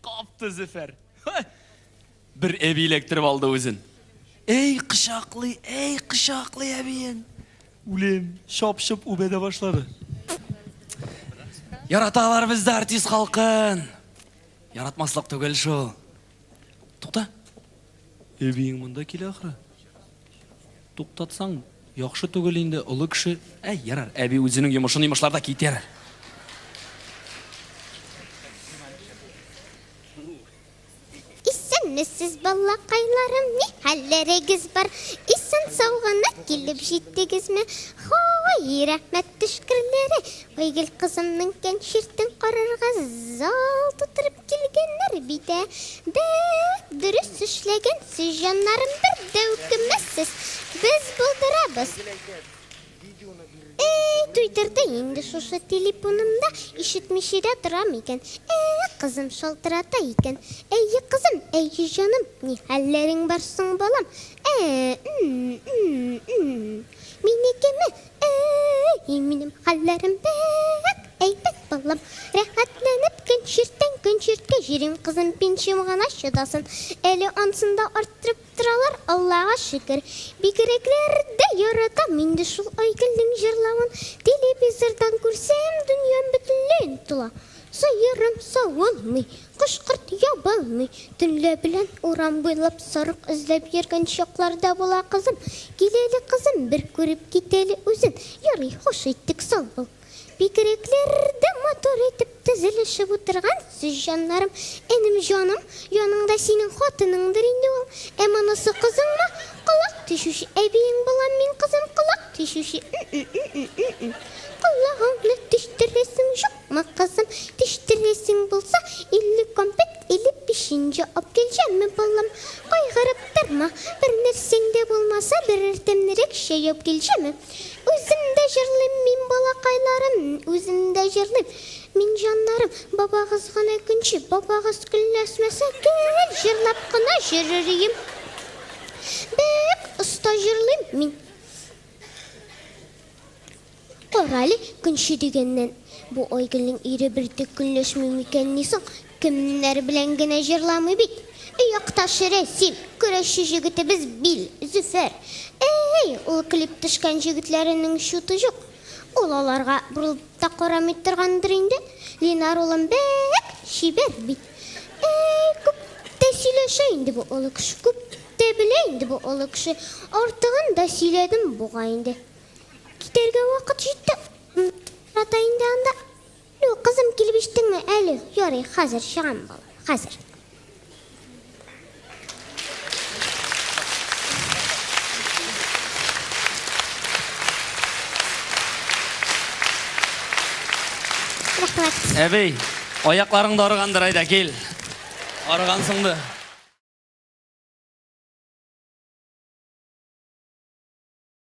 Капты Зөфәр. Бер әби электрип алды үзен. Эй, кычаклый, эй, кычаклый әбиен. Үлем, шап-шып үбәдә башлады. Яраталар бездә артист халкын. Яратмаслык түгел шул. Тукта. Эбиең монда килә ахры. Туктатсаң, яхшы түгел инде, олы кеше. Әй, ярар, әби үзенең йомышын йомышларда китәр. Исәнмесез, балакайларым, ни хәлләрегез бар? Исән сау гына килеп җиттегезме? Хай, рәхмәт төшкерләре. Айгөл кызымның концертын карарга зал тутырып Килгәннәр бит, ә? Бәк дөрес эшләгәнсез, җаннарым, бер дә үкенмәссез, без булдырабыз. Әй, туйдырды инде шушы телепунымда, ишетмичә дә торам икән. Әй, кызым шалтырата икән. Әйе, кызым, әйе, җаным, ни хәлләрең бар соң, балам? Ә-ә-ә, м-м-м-м-м. Минекеме? Әй, минем хәлләрем бәк әйбәт, балам. Рәхәтләнеп көн чиртәң, көн чирткә җөрим, кызым, пенсиям гына чыдасын. Әле ансын да арттырып торалар, Аллага шөкер. Бигрәкләр дә яратам инде шул Айгөлнең җырлавын. Телевизордан күрсәм, дөньям бөтенләй онытыла. Сыерым савылмый, Кош-корт ябалмый, төнлә белән урам буйлап сарык эзләп йөргән чаклар да була, кызым, кил әле, кызым, бер күреп кит әле үзен, ярый, хуш иттек соң ул. Бигрәкләр дә матур итеп тезелешеп утыргансыз, җаннарым, энем, җаным, яныңда синең хатыныңдыр инде ул, ә монысы кызыңмы, колак тишүче әбиең булам мин, кызым, колак тишүче, м-м-м-м-м-м, колагыңны тиштерәсең, җук! Ма кызым, тештерәсең булса, илле компет, илле печенье ап килҗәмме, балам? Кайгырып торма, бер нәрсәң дә булмаса, берәр тәмлерәк чәй ап килҗәмме? Үзем дә җырлыйм мин, балакайларым, үзем дә җырлыйм мин, җаннарым. Бабагыз гына көнче, бабагыз көнләшмәсә, гел җырлап кына йөрер ием. Бик оста җырлыйм мин. Карале, көнче дигәннән, бу Айгөлнең ире бертөк көнләшми микәнни соң? Кемнәр белән генә җырламый бит! Өй якташы Рәсим, көрәшче җегетебез Бил, Зөфәр. Ә-әй, ул килеп төшкән җегетләренең чуты җук. Ул аларга борылып та карамый торгандыр инде. Линар улым бәк чибәр бит. Әй, күп тә сөйләшә инде бу олы кеше, күп тә белә инде бу олы кеше. Артыгын да сөйләдем бугай инде. Китәргә вакыт җитте. Ята инде анда. Лю, кызым, килеп иштеңме әле? Ярый, хәзер чыгам, балам, хәзер. Әбей, аякларың да арыгандыр, әйдә, кил. Арыгансыңды.